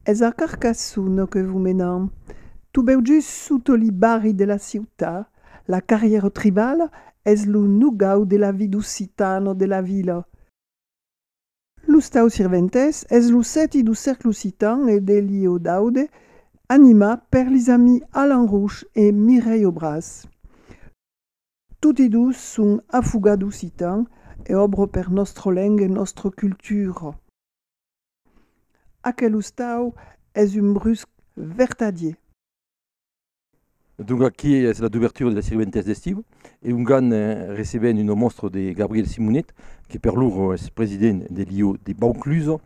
Es a Carcassona que vos menam. Tubèu just sota li barri de la ciutà, la carrièra tribala es lo nogau de la vida occitana de la vila. L'ostau Sirventes es lo sèti do Cercle Occitan e de Lieu d'Aude, animat per lis amis Alan Rouch e Mireille Aubras. Toti dus son afugat occitan e òbro per nòstro leng e nòstro cultura. Aquel ostau es un brusc vertadier. Donc aquí es la dubertura de las sirventas d'estiu e ongan recebèm una mòstra de Gabriel Simonet que per lor es president de l'IO de Vaucluse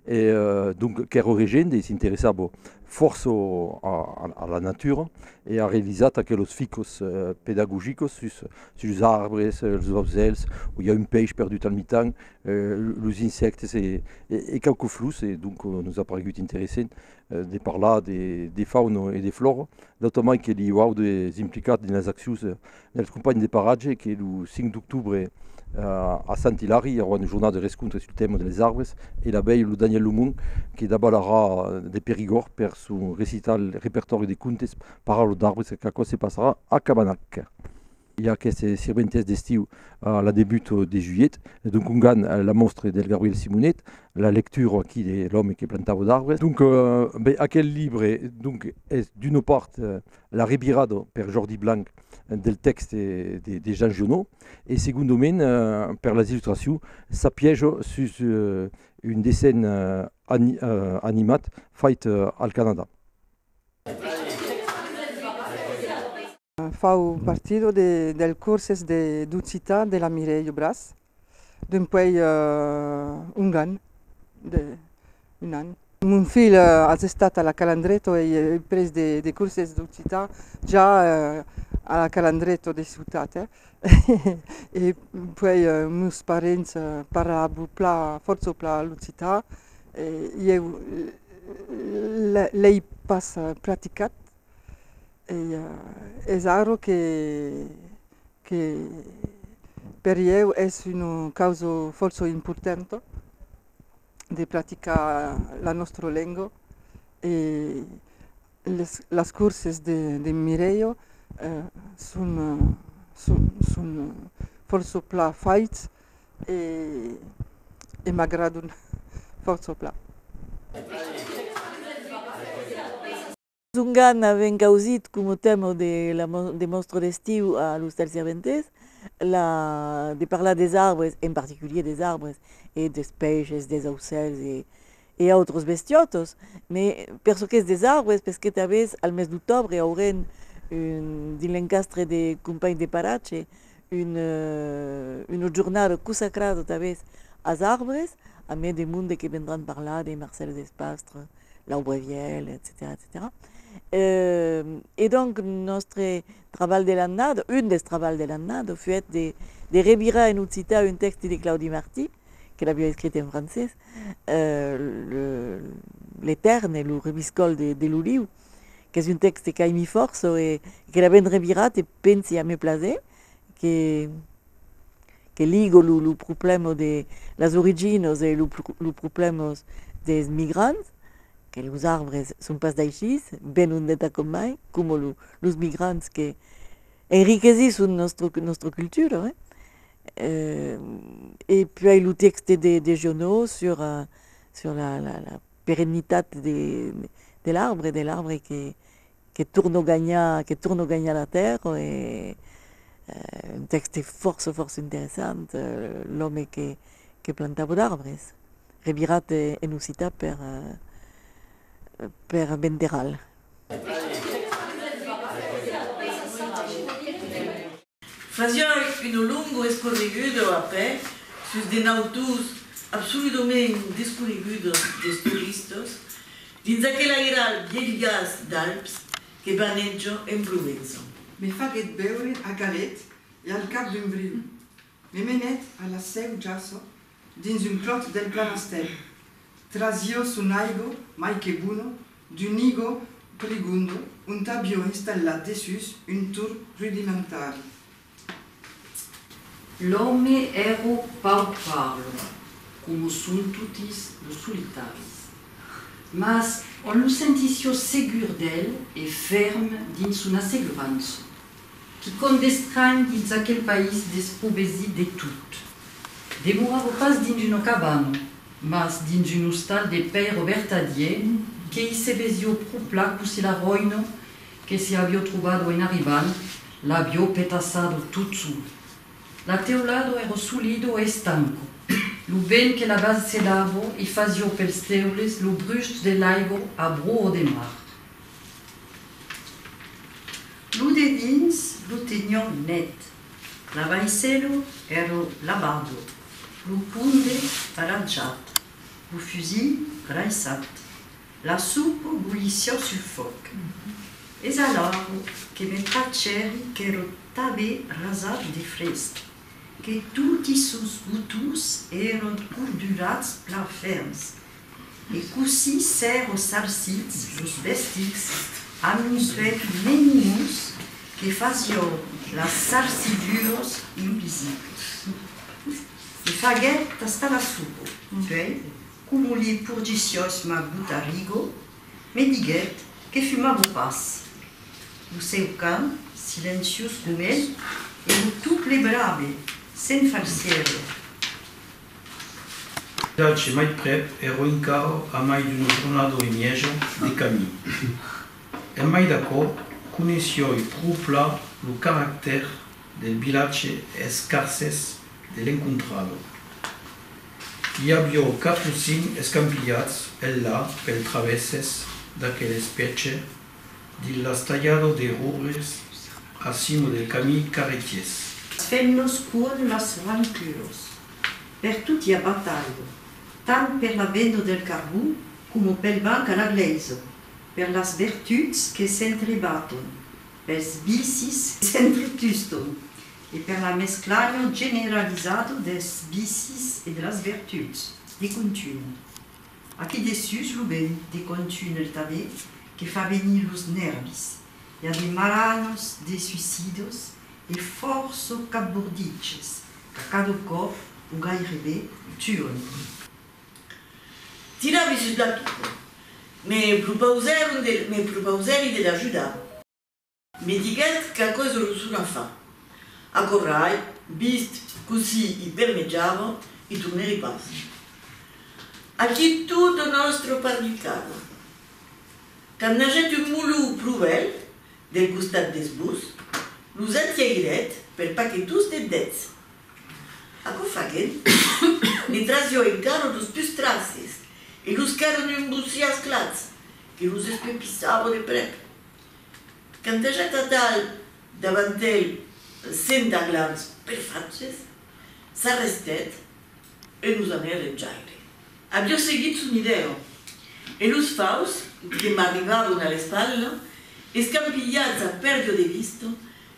e donc qu'èra regent e s'interessava fòrça a la natura e a realizat aquelos ficos pedagogicos sus los arbres, los ausèls, o i a un peish perdut al mitan, los insèctes e quauque flors, e donc nos a paregut interessent de parlar de fauna e de flora, d'autamai que li audes implicat dins las accions dels companhs de paratge que lo 5 d'octobre a Sant Ilari i aurà una jornada de rescontre sul tèma de les arbres e la vei lo Daniel Lomon que dabalarà de Perigòrd per son recital repertòri de contes Paralo d'arbres que aquò se passarà a Cabanac. I a aqueste sirventès d'estiu a la debut de julhet, donc ongan la mòstra del Gabriel Simonet, la lectura aquí de L'homme que plantava d'arbres. Donc, ben, aquel libre donc es d'una part La revirada per Jordi Blanc del tèxte de Jean Genot e segondoment per las illustracions s'apièja sus un dessenh animat fait al Canadà. Fau partida dels curses d'occitan de la Mireille Brasse. d'un puèi ongan, d'un an. Mon filh as estat a la Calandreto e i a pres de curses d'occitan ja a la Calandreto de ciutat, e puèi meus parents parlavan plan, fòrça plan l'occitan e ieu l'ai pas practicat e es ara que que per ieu es una causa fòrça importanta de practicar la nòstra lenga e las corses de Mireio son fòrça plan faits e m'agradon fòrça plan. Zongan avèm gausit coma temor de la de mòstra d'estiu a l'ostal Sirventes, la de parlar des arbres, en particulier des arbres e des peishes, des aucèls e e autres bestiòtos, me per çò qu'es des arbres, pes que tanbés al mes d'octòbre aurèn un dins l'encastre de Companhs de Paratge, Una jornada consacrada tanben as arbres, a mai de monde que vendràn parlar de Marcel Despastre, l'aubre vièlh, etcetèra etcetèra E donc nòstre trabalh de l'annada, un dels trabalhs de l'annada, fuèt de revirar en occitan un tèxte de Claudi Martí, que l'aviá escrit en francés, L'Etèrn e lo reviscòl de l'oliu, qu'es un tèxte qu'ai mi fòrça e que la ben revirat e pensi a me plaser, que que ligo lo lo problèma de las originas e lo lo problèma des migrants, que los arbres son pas d'aicí, ben ont entà com mai, coma lo los migrants que enriquesisson nòstra nòstra cultura eh. E puèi lo tèxte de de Giono sur sur la la la perennitat de l'arbre, de l'arbre que que torno ganhar, que torno ganhar la tèrra e un tèxte fòrça fòrça interessant, l'òme que que plantava d'arbres, revirat en occitan per per Benderal. Fasiá un longo escorregudo a pè sus de nautons absoludament desconegudos des toristas dins aquel airal bielgas d'Alps que baneja en Provença. Me faguèt veure a Galet e al cap d'un brin, me menèt a la sèu jaça Dins un clòt del planastèl. Trasio son aigo, mai que bono, d'un igo prigondo ont avio installat dessús un tur rudimentari. L'òme ero pauc parlo, coma son totis los solitaris. Mas ont lo sentissio segur d'el e fèrm dins son assegurança. Qui con d'estranh dins aquel país desprovesit de tot. Demoravo pas dins una cabana, mas dins un ostal de pèir obertadier que i se vesio pro pla cossí la roina que si avio trobado en arribant l'avio petassado tot çu. La teulado ero solido e estanco. Lo vent que la basedavo i fasio pels teules lo brust de l'aigo a broor de mar. Lo de dins lo tenion net, la vaissèlo er au lavabo, lo ponde baratjat, lo fusil braissat, la sopo bolission sul fòc. Es alòro que me fachèri quero tabé rasat de fresc, que toti sos botons èron cordurats plan ferms E cossí sèron salsits los vestits amb un suèt leminós que fasión las salsiduras invisiblas. E faguèt tasta la sopa, puèi, coma li porgisiós ma bota rigo, me diguèt que fumava pas. Lo sèu can, silenciós com el, èra tot le brave, se'n falsièra. Viatge mai prèp, èro encara a mai d'una jornada e mièja de camin. En mai d'aquò, coneissioi pro pla lo caractèr del vilatge e es carses de l'encontrada. I avió quatre o cinc escampilhats ellà pel travèses d'aquel espèce Dins las talhadas de robres a cima del camí Carretiers. Fem nos cuon las ranculos. Per tot i a batalha, tant per la venda del carbon coma pel banc a la glèisa, per las vertuts que s'entrebaton, pels vicis que s'entretuston e per la mesclanha generalizada dels vicis e de las vertuts, de contunh. Aquí dessús lo vent de contunh el tabé que fa venir los nèrbis. I a de maranos dessuisidos e fòrça capborditges qu'a cada còp, o gairebe, tuon. Tiravi sus la pica. Me propausèron de me propausèri de l'ajudar. Me diguèt qu'aquò's lo sona fa. Acorrai, vist cossí i permejava, i tornèri pas. Aquí tot lo nòstre parlicava. Quand nagèt un moló pro bèl, del costat deth bus, los atiairèt per paquetós de dets. Aquò faguent, ne trasió encara los pustraces e los qu'èran un bossí asclats, que los espepissava de prèp. Cantejat atal davant el sent aglans per Frances, s'arrestèt e nos anèr en jaire. Avió seguit son idèa e los faus que m'arribavon a l'espatla, escampilhats a pèrdua de vista,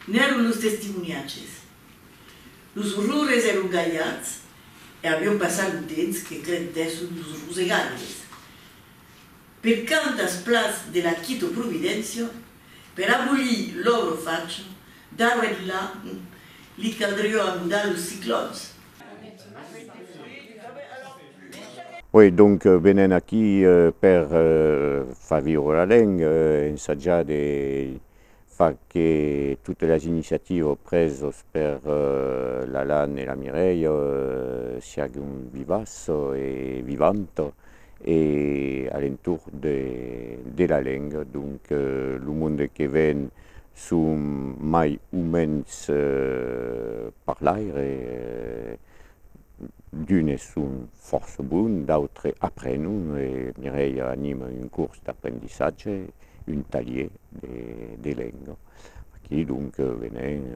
n'èron los testimoniatges. Los orrures èron galhats e avión passat lo temps que crentèsson los rosegalhes. Per quantas plats de la Quito Providencia, per abolir l'òbro facho, d'auèth la, li caldrió amudar los ciclòns? Uèi, donc, venèn aquí per far viure la lenga, ensajar de. far que totes las iniciativas presas per l'Alan e la Mireia siágen vivas e vivant e a l'entorn de la lenga, donc lo monde que ven son mai o mens parlaire. d'unes son fòrça bons, d'autres aprenon e Mireia anima un cors d'aprendissatge, un talhier de lenga. Aquí, donc, venen,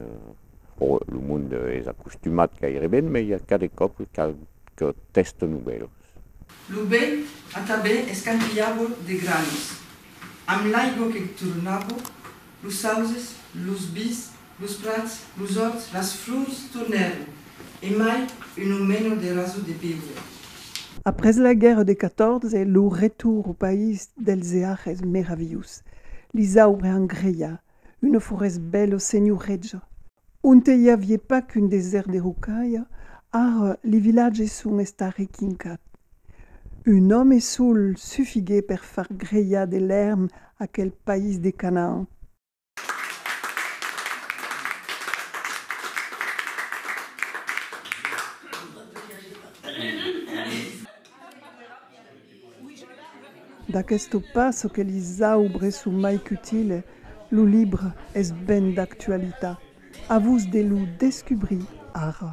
o lo monde es acostumat gaireben, mai i a cada còp qualques tèsts novèls. Lo bèi atabèr escampiava de granes. Amb l'aiga que tornava, los sauses, los bis, Los plats, los òrts, las flors tornèron, e mai un o meno de raso de viure. Après la guèrra de 14, lo retour au país dels each es meravilhós. L'Isaure en Greia, una forest bèla senhoretja, onte i avié pas qu'un desèrt de rocaia, ara li vilatges son estat requincat. Un òme sol sufigué per far Greia de l'èrm aquel país de Canaan. D'aqueste pas çò que li zau breçu mai qu'utile, lo libre es ben d'actualitat. A vos de lo descubrir ara.